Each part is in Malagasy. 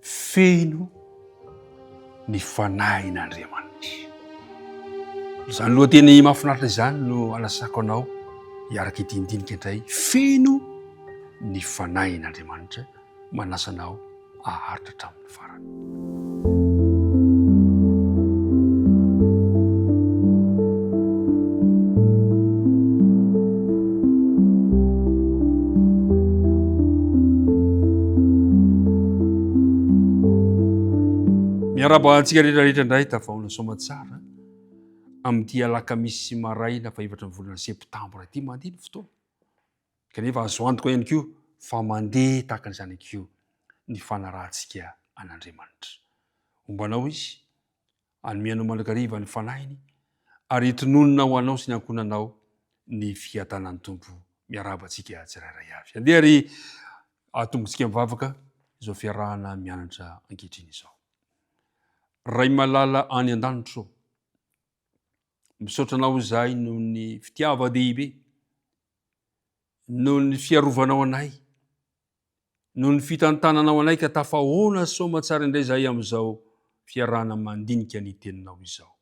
Feno ny Fanahin'Andriamanitra. Izany lohateny mahafinaritra izany no anasako anao hiaraka ity ndinika indray. Feno ny Fanahin'Andriamanitra. Manasa anao aharitra hatramin'ny farany. Miarahaba antsika rehetra rehetra indray tavaona soamatsara amin'ity alakamisy maraina fahefatra ny volana septambra ity mandeha ny fotoana kanefa azo antoka ihany koa fa mandeha tahaka an'izany koa ny fanarahantsika an'Andriamanitra. Homba anao izy Hanome anao mandrakariva ny fanahiny ary hitononona ho anao sy ny ankohonanao ny fiadanan'ny Tompo. Miarahaba antsika tsirairay avy. Andeha ary atombotsika mivavaka izao fiarahana mianatra ankehitriny izao. Ray malala any an-danitro, misaotra anao izahay noho ny fitiava-dehibe, noho ny fiarovanao anay, noho ny fitantananao anay ka tafahoana soamatsara indray izahay amin'izao fiarahana mandinika ny teninao izao.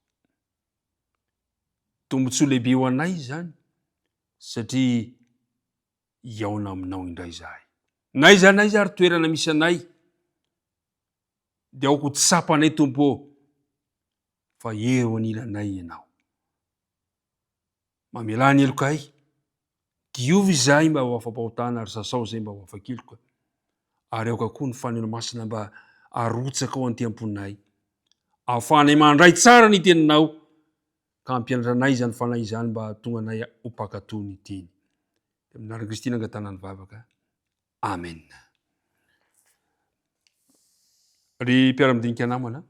Tombotsoa lehibe ho anay izany satria hihaona aminao indray izahay. N'aiza n'aiza ary toerana misy anay dia aoka ho tsapanay Tompo ô fa eo anilanay ianao. Mamelà ny heloka ahy. Diovy izahay mba ho afa-pahotana ary sasao izay mba ho afa-keloka. Ary aoka koa ny Fanahinao Masina mba harotsaka ao an-temponay. Ahafahanay mandray tsara ny Teninao ka hampianatra anay izany Fanahy izany mba hahatonga anay ho mpankatò ny Teny. Tamin'ny anaran'i Kristy no nangatahana ny vavaka. Amen. Ry mpiara-midinika namana,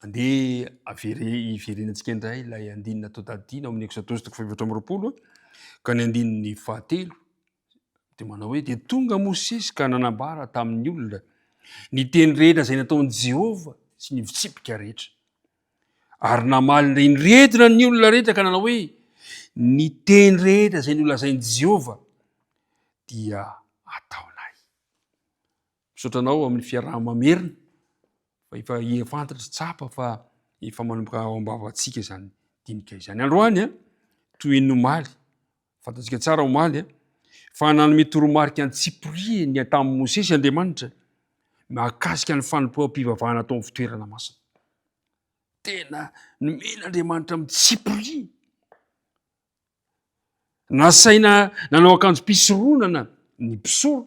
andeha avere hiverenantsika indray ilay andinina atao tadidina amin'ny Exodus toko fahefatra amby roapolo ka ny andininy fahatelo dia manao hoe dia tonga Mosesy ka nanambara tamin'ny olona ny teny rehetra izay nataon'i Jehovah sy ny fitsipika rehetra. Ary namaly indray ny retina ny olona rehetra ka nanao hoe, Ny teny rehetra izay nolazain'i Jehovah dia ataonay. Misaotra anao amin'ny fiaraha-mamerina fa efa efa fantatra tsapa fa efa manomboka ao am-bavantsika izany dinika izany. Androany, toy ny omaly, Fantatsika tsara omaly fa nanome toromarika an-tsipiriany tamin'i Mosesy Andriamanitra mahakasika ny fanompoam-pivavahana atao amin'ny fitoerana masina. Tena nomena Andriamanitra amin'ny tsipiriany. Nasaina nanao akanjo mpisoronana ny mpisoro.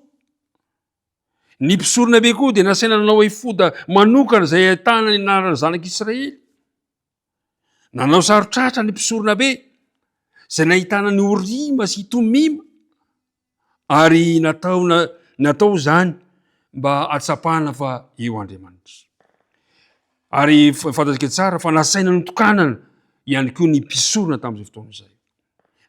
Ny mpisorona be koa dia nasaina nanao efoda manokana izay ahitana ny anaran'ny zanak'Israely. Nanao saro tratra ny mpisoronabe izay nahitana ny Orima sy Tomima ary natao natao izany mba atsapana fa eo Andriamanitra. Ary fantatsika tsara fa nasaina notokanana ihany koa ny mpisorona tamin'izay fotoana izay.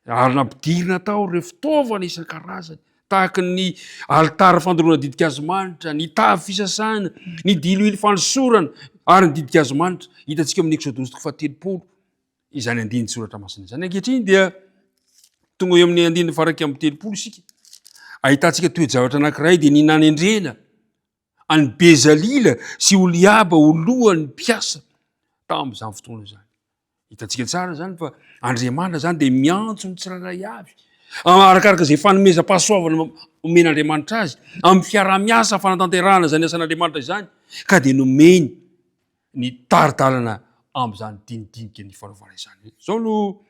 ary nampidirina tao ireo fitaovana isan-karazany tahaka ny alitara fandoroana didikazomanitra, ny tavy fisasana, ny diloilo fanosorana ary ny didikazomanitra. Hitantsika amin'ny Eksodosy toko fahatelopolo izany andininy soratra masina izany. Ankehitriny dia tonga eo amin'ny andininy faraika amin'ny telopolo isika. Ahitantsika toe-javatra anankiray dia ny nanendrena an'i Bezalila sy Oliaba ho lohan'ny mpiasa tamin'izany fotoana izany. Hitantsika tsara izany fa Andriamanitra izany dia miantso ny tsirairay avy arakaraka izay fanomezam-pahasoavana omen'Andriamanitra azy amin'ny fiaraha-miasa fanatanterahana izany asan'Andriamanitra izany ka dia nomeny ny tari-dalana amin'izany dinidinika nifanaovana izany. Izao no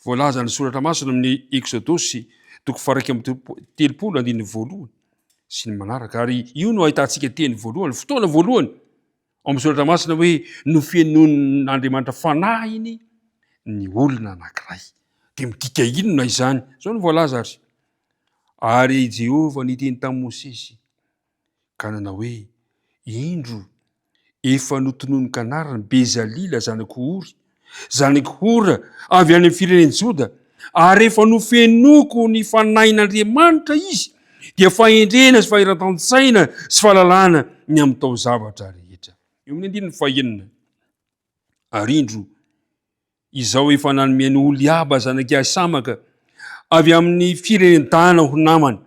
voalazan'ny soratra masina amin'ny Eksodosy toko faha-iraika amby telopolo andininy voalohany sy ny manaraka, ary io no ahitantsika teny voalohany, fotoana voalohany ao amin'ny soratra masina hoe nofenoin'Andriamanitra fanahiny ny olona anankiray. Dia midika inona izany? Izao no voalaza ary, ary Jehovah niteny tamin'i Mosesy, ka nanao hoe, Indro, efa notononin-kanariny Bezalila zanak'i Ory, zanak'i Hora, avy any amin'ny firenen'i Joda, ary rehefa nofenoiko ny Fanahin'Andriamanitra izy, dia fahendrena sy fahiratan-tsaina sy fahalalana ny amin'ny taozavatra rehetra. Eo amin'ny andininy fahenina. Ary indro, Izao efa nanome an'i Oholiaba zanak'i Ahisamaka avy amin'ny firenen-tana ho namany,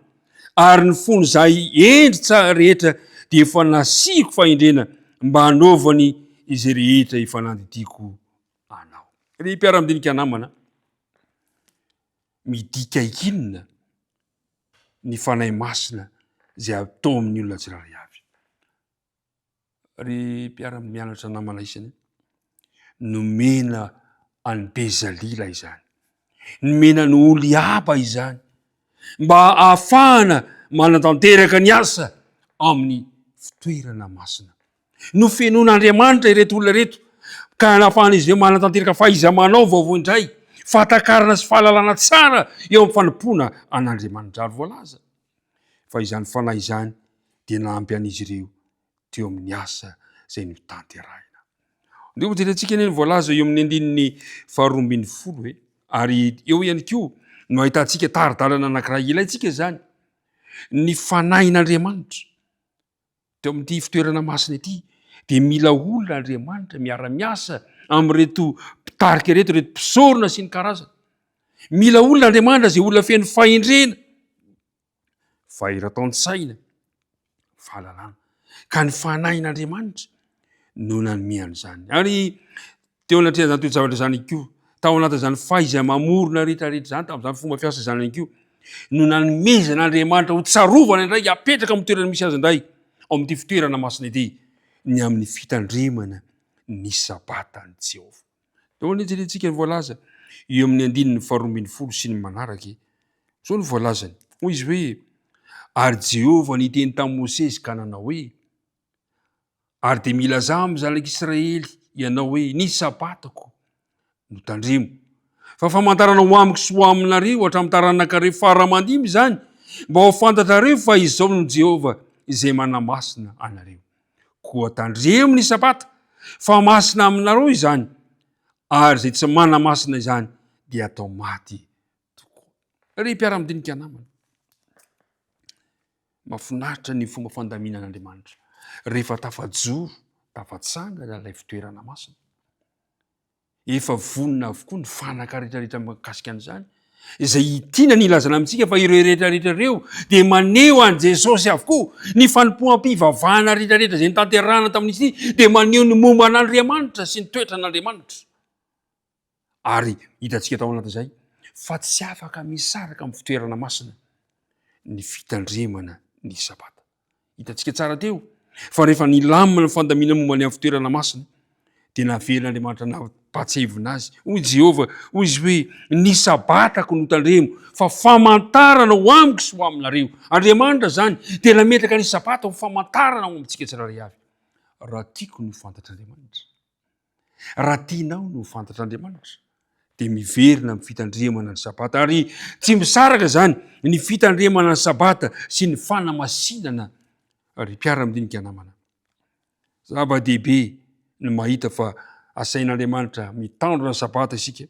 ary ny fony izahay hendry tsara rehetra dia efa nasiako fahendrena mba hanaovany izay rehetra efa nandidiako anao. Ry mpiara-midinika namana, midika inona ny Fanahy Masina izay atao amin'ny olona tsirairay avy? ry mpiara-mianatra namana isany, nomena an'i Bezalila izany. Nomena an'i Oliaba izany mba ahafahana manatanteraka ny asa amin'ny fitoerana masina. Nofenoan'Andriamanitra ireto olona ireto ka nafahan'izy ireo manatanteraka fahaiza-manao vaovao indray, fahatakarana sy fahalalana tsara eo amin'ny fanompoana an'Andriamanitra ary voalaza. fa izany fanahy izany dia nampy an'izy ireo teo amin'ny asa izay notanterahina. Ndeha hojerentsika anie ny voalaza eo amin'ny andininy faharoa ambin'ny folo e. Ary eo ihany koa no ahitantsika tari-dalana anankiray ilaintsika izany, ny fanahin'Andriamanitra. Teo amin'ity fitoerana masina ity dia mila olona Andriamanitra miara-miasa amin'ireto mpitarika ireto, ireto mpisorona sy ny karazany. Mila olona Andriamanitra izay olona feno fahendrena, fahiratan-tsaina, fahalalana. Ka ny fanahin'Andriamanitra no nanome an'izany. Ary Teo anatrehan'izany toe-javatra izany ihany koa, tao anatin'izany fahaiza-mamorona rehetrarehetra izany, tamin'izany fomba fiasa izany ihany koa, no nanomezana Andriamanitra ho tsarovana indray hapetraka amin'ny toerana misy azy indray ao amin'ity fitoerana masina ity, ny amin'ny fitandremana ny Sabatan'i Jehovah. Tao anie jerentsika ny voalaza eo amin'ny andininy faharoa ambin'ny folo sy ny manaraka e. Izao no voalazany, hoy izy hoe, Ary Jehovah niteny tamin'i Mosesy ka nanao hoe, Ary dia milazà amin'ny zanak'Israely ianao hoe, Ny Sabatako no tandremo. Fa famantarana ho amiko sy ho aminareo hatramin'ny taranakareo fara aman-dimy izany, mba ho fantatrareo fa izao no Jehovah izay manamasina anareo. Koa tandremo ny Sabata, fa masina aminareo izany, ary izay tsy manamasina izany dia atao maty tokoa. Ry mpiara-midinika namana, mahafinaritra ny fomba fandaminan'Andriamanitra rehefa tafajoro, tafatsangana ilay fitoerana masina. Efa vonona avokoa ny fanaka rehetra rehetra mikasika an'izany, izay itiana ny ilazana amintsika fa ireo rehetra rehetra ireo dia maneho an'i Jesosy avokoa, ny fanompoam-pivavahana rehetra rehetra izay nitanterahana tamin'izy ity dia maneho ny momba an'Andriamanitra sy ny toetran'Andriamanitra. Ary hitantsika tao anatin'izay fa tsy afaka misaraka amin'ny fitoerana masina ny fitandremana ny Sabata. Hitantsika tsara teo fa rehefa nilamina ny fandamina momba ny amin'ny fitoerana masina dia navelan'Andriamanitra nampatsevina azy. Hoy Jehovah, hoy izy hoe, ny Sabatako no tandremo fa famantarana ho amiko sy ho aminareo. Andriamanitra izany dia nametraka ny Sabata ho famantarana ho amintsika tsirairay avy. Raha tiako ny ho fantatr'Andriamanitra. Raha tianao ny ho fantatr'Andriamanitra dia miverina amin'ny fitandremana ny sabata ary tsy misaraka izany ny fitandremana ny sabata sy ny fanamasinana ry mpiara-midinika namana. Zava-dehibe ny mahita fa asain'Andriamanitra mitandrina ny sabata isika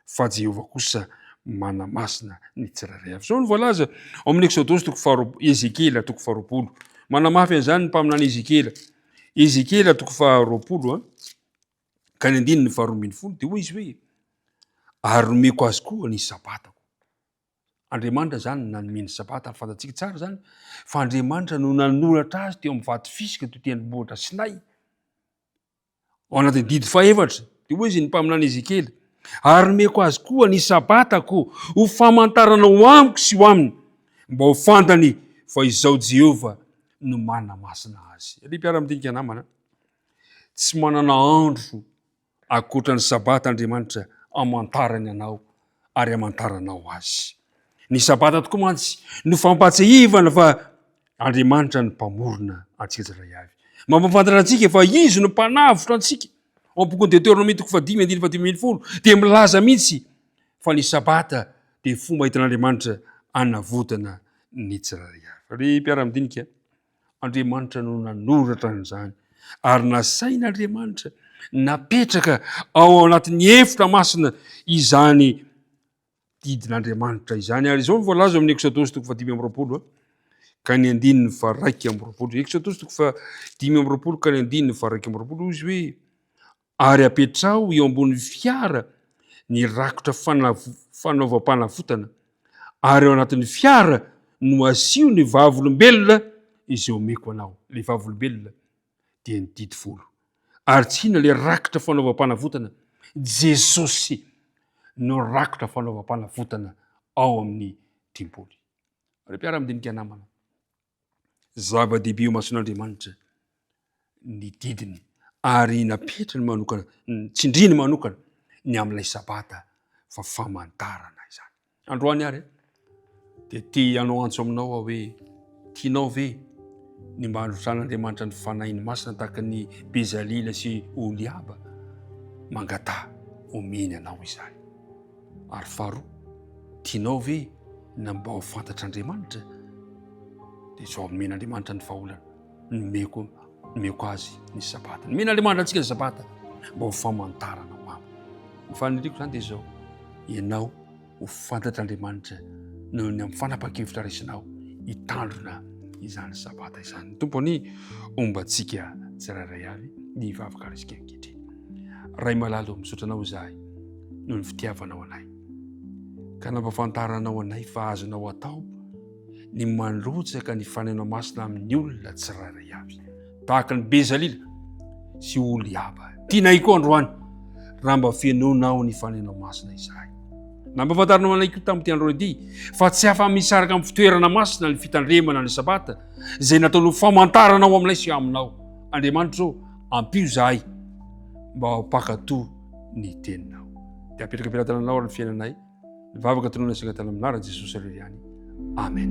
fa Jehovah kosa manamasina ny tsirairay avy. Izao no voalaza ao amin'ny Eksodosy toko faharoa, Ezekiela toko faharoapolo. Manamafy an'izany ny mpaminany Ezekiela. Ezekiela toko faharoapolo, an, ka ny andininy faharoa ambin'ny folo, dia hoy izy hoe, ary nomeko azy koa ny sabatako. Andriamanitra izany nanome ny sabata, ary fantatsika tsara izany, fa Andriamanitra no nanoratra azy teo amin'ny vato fisika teo tendrombohitra Sinay. ao anatin'ny didy fahefatra dia hoy izy ny mpaminany Ezekiely ary nomeko azy koa ny sabatako ho famantarana ho amiko sy ho aminy mba ho fantany fa izao Jehovah no manamasina azy. Ry mpiara-midinika namana, tsy manana andro akoatra ny sabata Andriamanitra amantarany anao ary hamantaranao azy. Ny sabata tokoa mantsy no fampahatsiahivana fa Andriamanitra no mpamorona antsika tsirairay avy. Mampahafantatra antsika fa izy no mpanavotra antsika. Ao amin'ny bokin'i Deteonomia toko fahadimy andininy fahadimy ambin'ny folo dia milaza mihitsy fa ny sabata dia fomba entin'Andriamanitra anavotana ny tsirairay avy. Ry mpiara-midinika, Andriamanitra no nanoratra an'izany ary nasain'Andriamanitra napetraka ao anatin'ny efitra masina izany didin'Andriamanitra izany ary izao ny voalaza amin'ny Eksodosy toko fahadimy amby roapolo ka ny andininy faraika amby roapolo. Eksodosy toko fahadimy amby roapolo ka ny andininy faraika amby roapolo izy hoe Ary apetraho eo ambonin'ny fiara ny rakotra fanaovam-panavotana, ary ao anatin'ny fiara no asio ny vavolombelona izay omeko anao. Ilay vavolombelona dia ny didy folo. Ary tsy inona ilay rakotra fanaovam-panavotana? Jesosy no rakotra fanaovam-panavotana ao amin'ny tempoly. Ry mpiara-madinika namana, zava-dehibe eo imason'Andriamanitra ny didiny ary napetrany manokana tsindriny manokana ny amin'ilay sabata fa famantarana izany androany ary dia te hanao antso aminao aho hoe tianao ve ny mba hanotran'Andriamanitra ny fanahiny masina tahaka ny Bezalila sy Oliaba mangataha omeny anao izany Ary faharoa, tianao ve na mba ho fantatr'Andriamanitra? Dia zao, nomen'Andriamanitra ny vahaolana, nomeko, nomeko azy ny sabata. Nomen'Andriamanitra antsika ny sabata, mba ho famantarana ho aminy. Ny faniriako izany dia zao, ianao ho fantatr'Andriamanitra noho ny amin'ny fanapa-kevitra raisinao hitandrina izany sabata izany. Ny Tompo anie homba antsika tsirairay avy ny vavaka raisika ankehitriny. Ray malalo, misaotra Anao izahay noho ny fitiavanao anay ka nampahafantaranao anay fa azonao atao ny mandrotsaka ny faneno masina amin'ny olona tsirairay avy tahaka ny Bezalila sy Oliaba. Tianay koa androany raha mba fenonao ny faneno masina izahay. Nampahafantaranao anay koa tamin'ity andro ity fa tsy afa-misaraka amin'ny fitoerana masina ny fitandremana ny sabata izay nataonao famantarana ao aminay sy aminao. Andriamanitra ô, ampio zahay mba hampakato ny teninao dia apetraka am-pelatananao ary ny fiainanay ny vavaka tonona sika tany aminara jesosy irery ihany amen